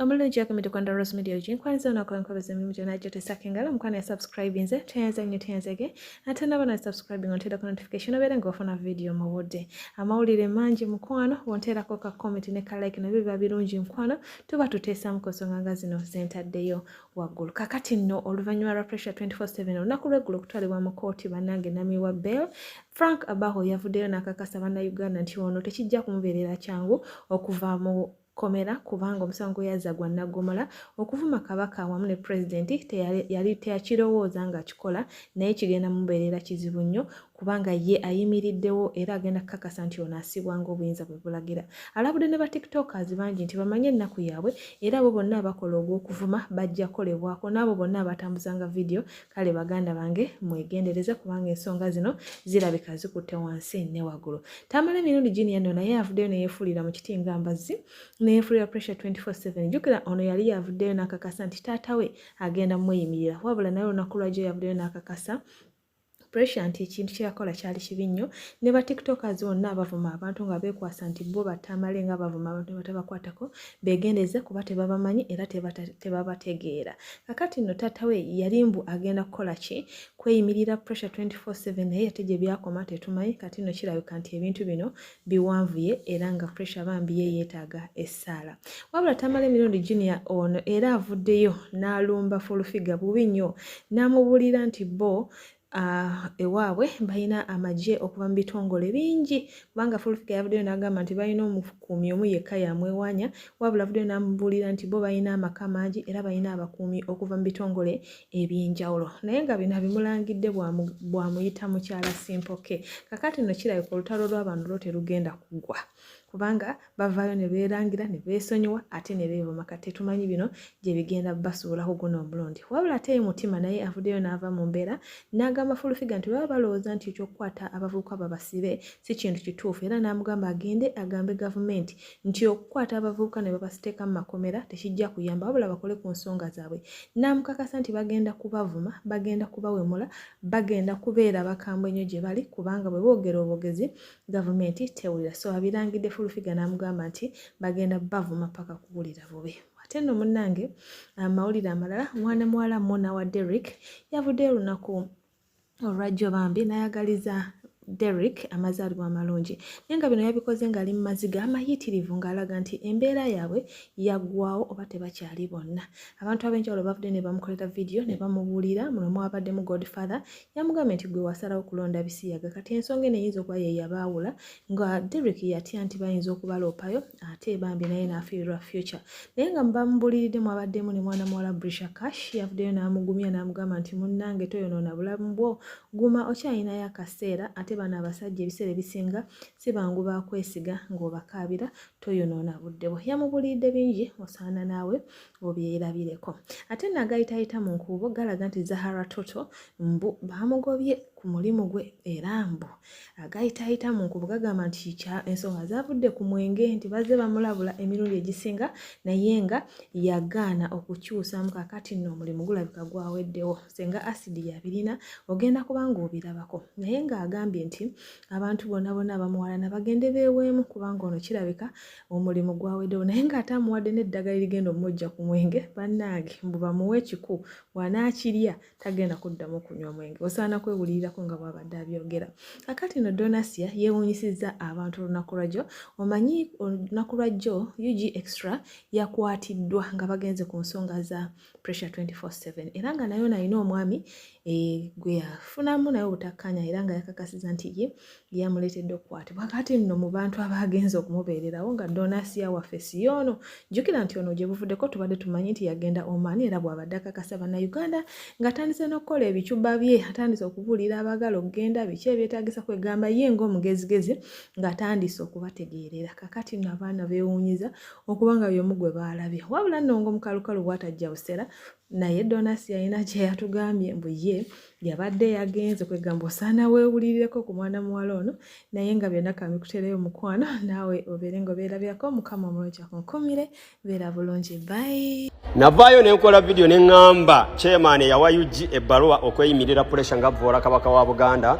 omulungi gyakumidde kwanda rose media ogi nkwanyiza onako enkobezo emimu gyona gyotesako engalo mukwana ya subscribe nze tuyanza nnyo tuyanzege ate naba na subscribing onteerako notification obeere nga ofuna vidiyo mu budde amawulire mangi mukwano wonteerako ka comment ne ka like nabyo biba birungi mukwano tuba tuteesamu ku nsonga nga zino zentaddeyo waggulu kakati nno oluvannyuma lwa pressure 24/7 olunaku lweggulo okutwalibwa mu kooti bannange nami wa bell frank abaho yavuddeyo n'akakasa bannayuganda nti ono tekijja kumubeerera kyangu okuva mu komera kubanga omusango yazza gwa naggomola okuvuma kabaka wamu ne pulezidenti yali teyakirowooza ng'akikola naye kigenda mubeerera kizibu nnyo kubanga ye ayimiriddewo era agenda kukakasa nti ono asibwa ngaobuyinza bwe bulagira alabudde ne ba tiktokers bangi nti bamanye ennaku yaabwe era abo bonna abakola ogw'okuvuma bajja kukolebwako n'abo bonna abatambuzanga vidiyo kale baganda bange mwegendereze kubanga ensonga zino zirabika zikutte wansi ne waggulu tamala emirundi gini yano naye avuddeyo neyefuulira mu kiti nga mbazzi neyefuulira pressure 24/7 jjukira ono yali yavuddeyo n'akakasa nti taata we agenda mweyimirira wabula naye olunaku lwajjo yavuddeyo n'akakasa pressure nti ekintu kyeyakola kyali kibi nnyo ne ba tiktokers bonna abavuma abantu nga beekwasa nti bo battamale nga bavuma abantu ne batabakwatako beegendeze kuba tebabamanyi era tebabategeera kakati nno taata we yali mbu agenda kukola ki kweyimirira pressure 24/7 naye ate gye byakoma tetumanyi kati nno kirabika nti ebintu bino biwanvuye era nga pressure bambi ye yeetaaga essaala wabula tamala emirundi junior ono era avuddeyo n'alumba fulufiga bubi nnyo n'amubuulira nti bo Ah, ewaabwe balina amagye okuva mu bitongole bingi kubanga fulfika yavuddeyo n'agamba nti balina omukuumi omu yekka yamwewanya wabula avuddeyo n'amubuulira nti bo balina amaka mangi era balina abakuumi okuva mu bitongole ebyenjawulo naye nga bino abimulangidde bwamuyita mukyala simpoke kakati no kirabika olutalo lwabano lwo terugenda kuggwa kubanga bavaayo ne beerangira ne beesonyiwa ate ne beevuma kati tetumanyi bino gye bigenda basuulaho guno omulundi wabula ate ye mutima naye avuddeyo n'ava mu mbeera n'agamba fulufiga nti baba balowooza nti ekyokukwata abavubuka babasibe si kintu kituufu era n'amugamba agende agambe gavumenti nti okukwata abavubuka ne babasiteeka mu makomera tekijja kuyamba wabula bakole ku nsonga zaabwe n'amukakasa nti bagenda kubavuma bagenda kubawemula bagenda kubeera bakambwe nnyo gye bali kubanga bwe boogera obogezi gavumenti tewulira so abirangidde fulufiga n'amugamba nti bagenda bavuma paka kuwulira bubi ate nno munnange amawulire amalala mwana muwala mona wa derrick yavuddeyo olunaku olwajjo bambi nayagaliza Derrick amazaalibwa amalungi naye nga bino yabikoze ng'ali mu maziga amayitirivu ng'alaga nti embeera yaabwe yaggwawo oba tebakyali bonna abantu ab'enjawulo bavudde ne bamukolera vidiyo ne bamubuulira muno mwabaddemu godfather yamugambye nti gwe wasalawo kulonda bisiyaga kati ensonga eno eyinza okuba ye yabaawula nga Derek yatya nti bayinza okubaloopayo ate bambi naye n'afiirwa future naye nga mubamubuliridde mwabaddemu ne mwana muwala Brisha Cash yavuddeyo n'amugumya n'amugamba nti munnange toyonoona bulamu bwo guma okyalinayo akaseera ate bano abasajja ebiseera ebisinga si bangu bakwesiga ng'obakaabira toyonoona budde bwo yamubuliridde bingi osaana naawe obyerabireko ate nagayitayita mu nkuubo galaga nti zahara toto mbu bamugobye ku mulimu gwe era mbu agayitayita mu nkuubo gagamba nti kya ensonga zavudde ku mwenge nti bazze bamulabula emirundi egisinga naye nga yagaana okukyusamu kakati nno omulimu gulabika gwaweddewo senga asidi yabirina ogenda kubanga obirabako naye ng'agambye nti abantu bona bona abamuwalana bagende beeweemu kubanga ono kirabika omulimu gwawedewo naye ng'ate amuwadde n'eddagala erigenda omujja ku mwenge bannange mbu bamuwa ekiku wanaakirya tagenda kuddamu kunywa omwenge osaana kwewulirirako nga bwabadde abyogera kakati no donasia yeewunyisizza abantu olunaku lwajjo omanyi olunaku lwajjo ug extra yakwatiddwa nga bagenze ku nsonga za pressure 24/7 era nga nayo nalina omwami eh, gwe yafunamu naye obutakkaanya era nga yakakasiza nti ye yamuleetedde okukwatibwa kati nno mu bantu abaagenza okumubeererawo nga donasiya waffe siyoono jjukira nti ono gye buvuddeko tubadde tumanyi nti yagenda omaani era bw'abadde akakasa bannayuganda ng'atandise n'okukola ebicuba bye atandise okubuulira abaagala okugenda biki ebyetaagisa kwegamba ye ng'omugezigezi ng'atandise okubategeerera kakati nno abaana beewuunyiza okuba nga byomu gwe baalabye wabula nongo mukalukalu bwatajja busera naye donas yalina kyeyatugambye mbu ye yabadde yagenze kwegamba osaana wewulirireko ku mwana muwala ono naye nga byonna kamikutereyo mukwano naawe obeere nga obeerabirako mukama omulungi akunkumire beera bulungi bayi navaayo nenkola vidiyo neŋŋamba chairman eyawa ug ebbaluwa okweyimirira puresha nga vvoola kabaka wa buganda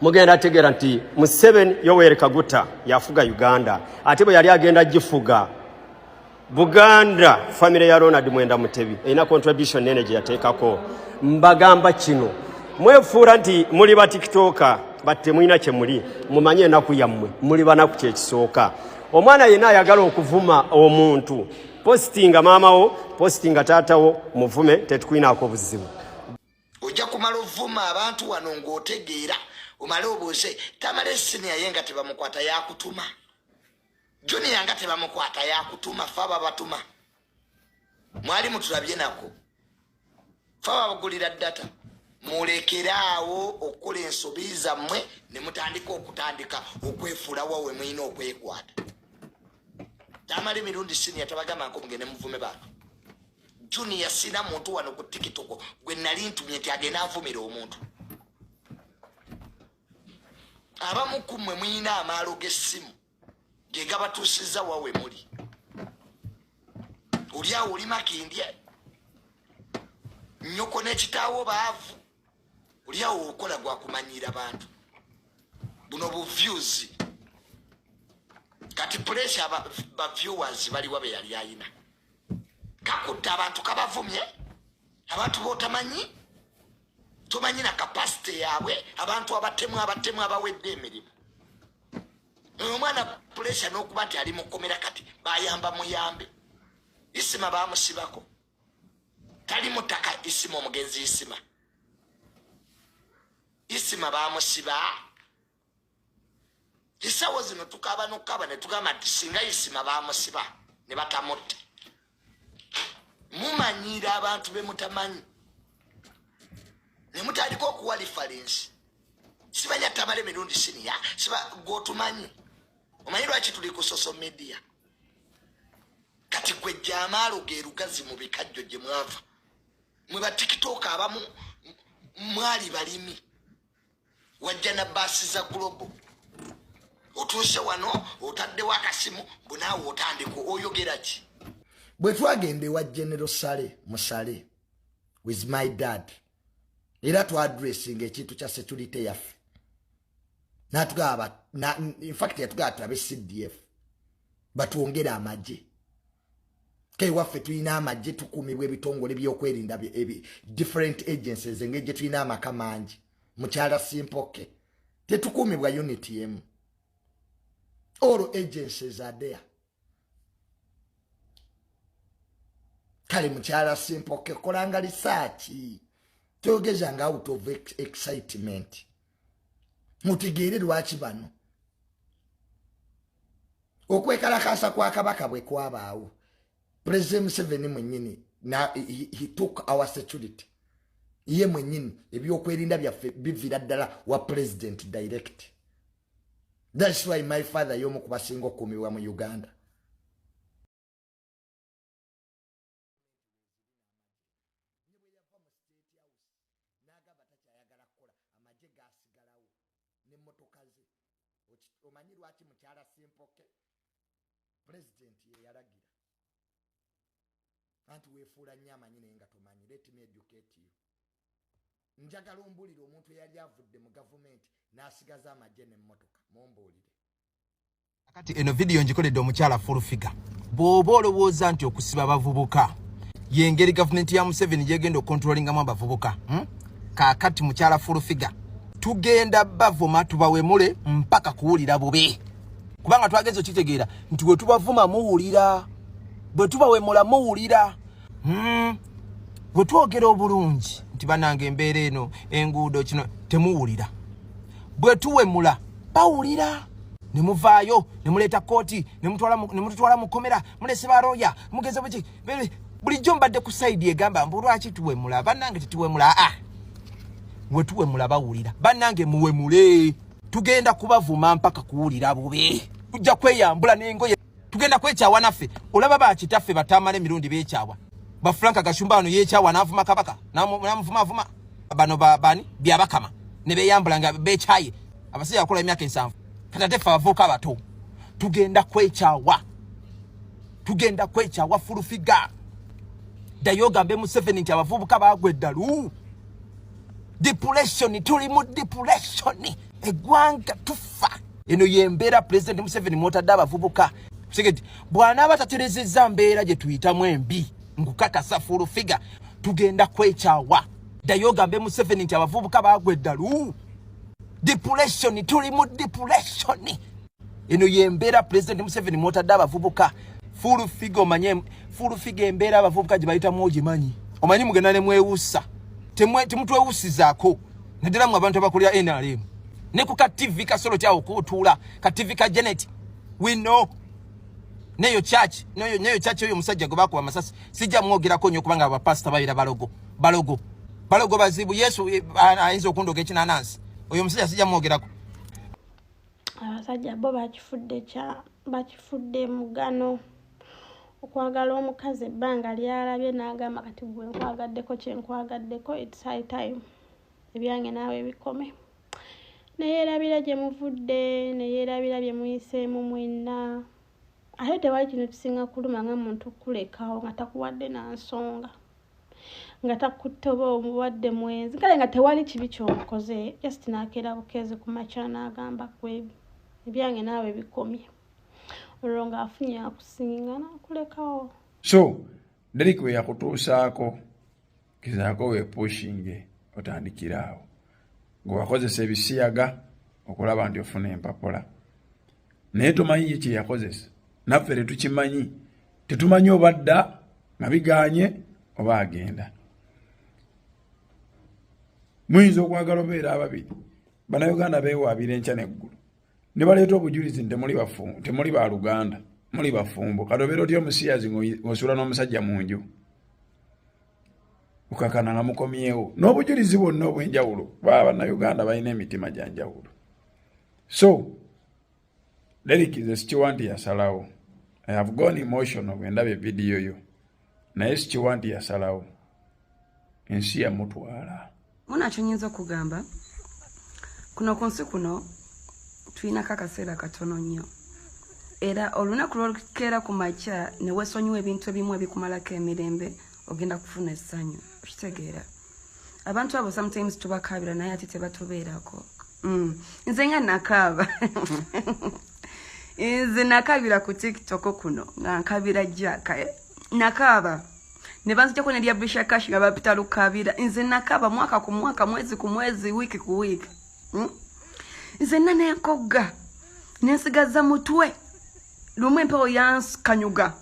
mugenda ategeera nti museven yoweri kaguta yafuga uganda ate bwe yali agenda gifuga buganda famire ya ronald mwenda mutebi erina contribution nene gye yateekako mbagamba kino mwefuula nti muli batikitoka but temulina kyemuli mumanye enaku yammwe muli banaku kyekisooka omwana yenna ayagala okuvuma omuntu positinga maamawo positinga taatawo muvume tetukwinaako buzibu ojja kumala ovuma abantu wano ng'otegeera omale obuuze tamala esiniya ye nga tebamukwata yakutuma juniya nga tebamukwata yakutuma fe ababatuma mwali mutulabye nako fe ababagulira data mulekeraawo okukola ensobi zammwe ne mutandika okutandika okwefuulawa we mulina okwekwata tamala emirundi siniya tabagamba nko mugende muvume bantu junior sina muntu wano ku tikitoko gwe nali ntumye nti agenda avumira omuntu abamu ku mmwe muyina amaalo g'essimu ge gabatuusizza wawe muli olyawo oli makindye nyoko n'ekitaawo baavu olyawo okola gwa kumanyiira bantu buno buvyuzi kati puleesa bavyuwazi baliwa be yali ayina kakudde abantu kabavumye abantu botamanyi tomanyi na kapasite yaabwe abantu abatemu abatemu abawedde emirimu omwana pulesa n'okuba nti ali mukomera kati bayamba muyambe isima bamusibako tali mutaka isima omugenzi isima isima bamusiba esawo zino tukaba nokukaba netugamba nti singa isima bamusiba ne batamutte mumanyiira abantu bemutamanyi nemutandika okuwa lifalensi sibanya tamale mirundi siniya siba gwotumanyi omanyi lwaki tuli ku social media kati gwe jamaalo gerugazi mu bikajjo gye mwava mwe batikitooka abamu mwali balimi wajja na baasi za global otuuse wano otaddewo akasimu bunaawe otandika oyogera ki bwe twagenda ewa genero sale musale with my dad era twadressinga ekintu kya security yaffe natugaba infact yatugaba tulabe cdf batwongere amagye kewaffe tulina amagye tukuumibwa ebitongole byokwerinda different agencies engeri gye tulina amaka mangi mukyala simpoke tetukuumibwa unit emu all agencies are there kale mukyala simpoke kolanga lisaaki toyogeza nga out of excitement mutegeere lwaki bano okwekalakaasa kwa kabaka bwe kwabaawo pulezida museveni mwenyini he took our security ye mwenyini ebyokwerinda byaffe bivira ddala wa pulezidenti direct thats why my father yomu kubasinga okukuumibwa mu uganda gavumenti weeziri n'amagye ne bwe yava mu State House n'agamba takyayagala kukola, amagye gaasigalawo n'emmotoka ze. Oki, omanyi lwaki mukyala Ssempoke? Pulezidenti ye yalagira. Anti weefuula nnyo amanyi naye nga tomanyi. Let me educate you. Njagala ombuulire omuntu eyali avudde mu gavumenti n'asigaza amagye n'emmotoka. Mumbuulire. Kati eno video njikoledde omukyala full figure. Bw'oba olowooza nti okusiba abavubuka y'engeri gavumenti ya Museveni gy'egenda okukontrolingamu abavubuka hmm? kaakati mukyala full figure tugenda bavuma tubawemule mpaka kuwulira bubi kubanga twagenza okitegeera nti bwe tubavuma muwulira bwe tubawemula muwulira hmm? bwe twogera obulungi nti banange embeera eno enguudo kino temuwulira bwe tuwemula bawulira ne muvaayo ne muleeta kkooti ne mututwala mu kkomera mulese balooya mugeza buki bulijjo mbadde ku sayidi egamba mbu lwaki tuwemula bannange tetuwemula aa we tuwemula bawulira bannange muwemule tugenda kubavuma mpaka kuwulira bubi tujja kweyambula n'engoye tugenda kwekyawa naffe olaba bakitaffe batamala emirundi bekyawa bafranka gashumba wano yekyawa navuma kabaka namuvumavuma bano bani byabakama nebeyambula nga bekyaye abasajja bakola emyaka ensanvu katateffe abavuuka abato tugenda kwekyawa tugenda kwekyawa fulufiga ddayo ogambe museveni nti abavubuka bagwa eddalu depression tuli mu depression egwanga tufa eno yembera president Museveni mwotadde abavubuka segedi bwanaaba taterezezza mbeera gye tuyitamu embi nkukakasa full figure tugenda kwekyawa ddayo ogambe Museveni nti abavubuka bagwa eddalu depression tuli mu depression eno yembeera pulezidenti museveni mwotadde abavubuka full figa omanye full figa embeera abavubuka gye bayitamu ogimanyi omanyi mugenda ne mwewusa temutwewusizako naddala mu abantu abakulira nrm ne ku ka tv kasolo kyawo kuutuula ka tv ka janet we know neyo church neyo neyo church oyo musajja gwe bakuba amasasi sijja mwogerako nnyo kubanga abapasita babeera balogo balogo balogo bazibu yesu eh, ayinza okundoga ekinanansi oyo musajja sijja mwogerako abasajja bo bakifudde kya bakifudde mugano okwagala omukazi ebbanga lyalabye n'agamba kati gwe nkwagaddeko kye nkwagaddeko its high time ebyange naawe bikome neyeerabira gye muvudde neyeerabira bye muyiseemu mwenna ate tewali kintu kisinga kuluma nga muntu kulekawo nga takuwadde na nsonga nga takuttoba omubadde mwenzi kale nga tewali kibi kyomukoze just nakeera bukeezi ku makya naagamba kwe ebyange naawe bikomye olwo ngaafunye akusinga nakulekawo so derik we yakutuusaako kizaako wepushinge otandikiraawo gwewakozesa ebisiyaga okulaba nti ofuna empapula naye tomanyi ye kye yakozesa naffe tetukimanyi tetumanyi oba dda nga biganye oba agenda muyinza okwagala obeera ababiri banauganda bewaabira enkya neggulu ne baleeta obujulizi nti temuli ba luganda muli bafumbo kati obeera otya omusiyazi ng'osuula n'omusajja mu nju ukakana nga mukomyewo n'obujulizi bwonna obw'enjawulo baba bannayuganda balina emitima gya njawulo so Derrick nze sikiwa nti yasalawo i have gone emotional bwe ndaba evidiyo yo naye sikiwa nti yasalawo ensi yamutwala munakyo nyinza okugamba kuno ku nsi kuno tulinako akaseera katono nnyo era olunaku lwolukeera ku makya newesonyiwa ebintu ebimu ebikumalako emirembe ogenda kufuna essanyu okitegeera abantu abo sometimes tubakaabira naye ate tebatubeerako mm. nze nga nakaaba nze nakabira ku tiktok kuno nga nkabira jaka eh? nakaaba ne banzijako ne lya bisha cash nga bapita lukabira nze nakaaba mwaka ku mwaka mwezi ku mwezi wiiki ku wiiki mm? nze nana enkogga nensigaza mutwe lumu empewo yankanyuga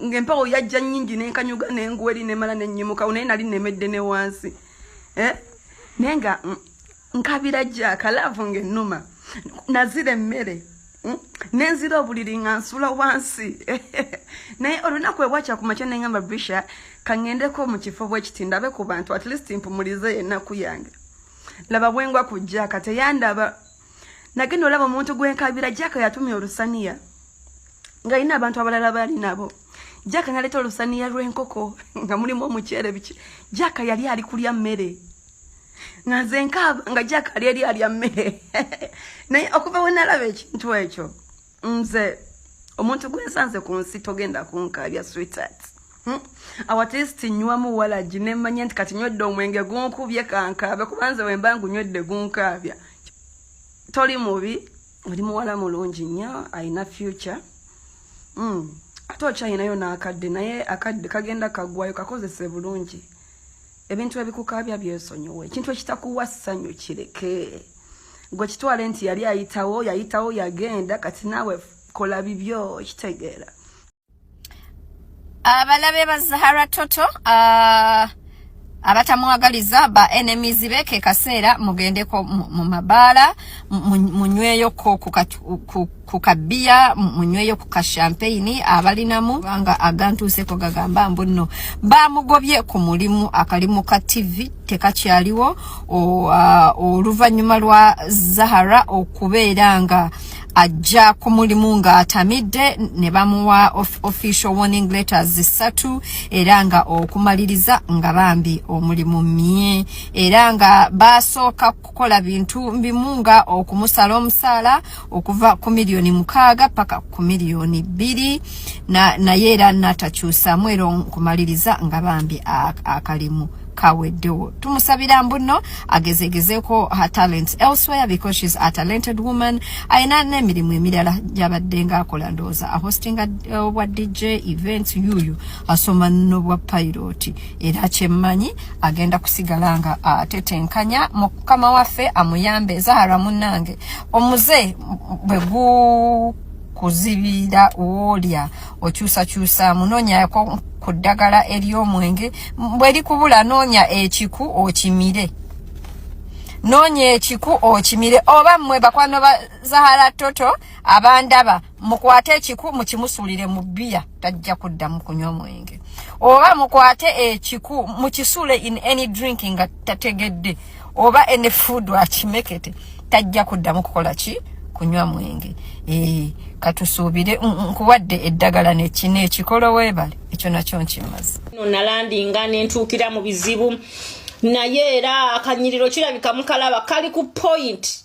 ngaempewo yajja nyingi nenkanyuga nenguwa eri nemala nenyimukawo naye nali nemedde ne wansi eh? naye nga mm, nkabira jaka laavu ngaenuma nazira emmere mm, nenzira obuliri nga nsula wansi naye olunaku ebwakya ku makya nengamba bisha kangendeko mu kifo bwekiti ndabe ku bantu at least mpumulize enaku yange laba bwengwa ku jaka teyandaba nagenda olaba omuntu gwenkabira jaka yatumya olusaniya nga yina abantu abalala bali nabo jaka naleta olusaniya lwenkoko nga mulimu omukyere biki jaka yali ali kulya mmere nga nze nkaaba nga jaka ali eri alya mmere naye okuva wenalaba ekintu ekyo nze omuntu gwensanze ku nsi togenda kunkaabya sweetheart Hmm? awatesti nywa muwalagi nemanya nti kati nywedde omwenge gunkubye kankaabya kubanze wemba ngunywedde gunkaabya toli mubi oli muwala mulungi nnyo alina future hmm. ate okyalinayo n'akadde naye akadde kagenda kaggwayo kakozese bulungi ebintu ebikukaabya byesonyiwa ekintu ekitakuwa ssanyu kireke gwe kitwale nti yali ayitawo yayitawo yagenda kati naawe kola bibyo kitegeera abalabe ba zahara toto ah, abatamwagaliza ba enemies be ke kaseera mugendeko mu mabaala munyweyo ko ku kabiya munyweyo ku kashampeyini abalinamu kubanga agantuuseko gagamba mbu nno baamugobye ku mulimu akalimu ka tivi tekakyaliwo oluvannyuma lwa zahara okubeera nga ajja ku mulimu ng'atamidde ne bamuwa of, official warning letters zisatu era nga okumaliriza nga bambi omulimu mye era nga baasooka kukola bintu mbimu nga okumusala omusaala okuva ku miliyoni mukaaga paka ku miliyoni bbiri naye era natakyusamu era nkumaliriza nga bambi akalimu kaweddewo tumusabira mbuno agezegezeko her talents elsewhere because she's a talented woman ayina n'emirimu emirala gyabadde nga akola ndowooza ahostinga uh, obwa dj events yuyu asoma nobwa pilot era kyemmanyi agenda kusigala nga atetenkanya mukama waffe amuyambe zahara munange omuze bwe kuzibira woolya okyusakyusa munoonyako ku ddagala ery'omwenge bwe likubula noonya ekiku okimire noonya ekiku okimire oba mmwe bakwano ba zahara toto abandaba mukwate ekiku mukimusulire mu bia tajja kuddamu kunywa omwenge oba mukwate ekiku mukisule in any drink nga tategedde oba any food akimekete tajja kuddamu kukola ki kunywa mwenge e, katusuubire nkuwadde eddagala nekino ekikolo webale ekyo nakyo nkimaze no nalandinga nentuukira mu bizibu naye era akanyiriro kirabika mukalaba kali ku point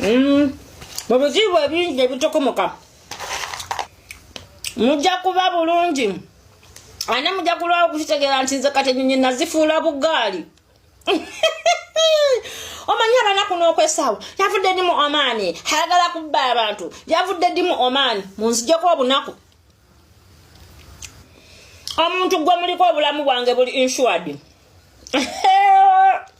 Mm. mu bizibu ebingi ebitukomoka mujja kuba bulungi ane mujja kulwawo okukitegeera nti nze kati enyonyi nazifuula bugaali omanyi abanaku n'okwesaawa yavudde ndi mu omaani ayagala kubba abantu yavudde ndi mu omaani munzijeko obunaku omuntu gwe muliko obulamu bwange buli insured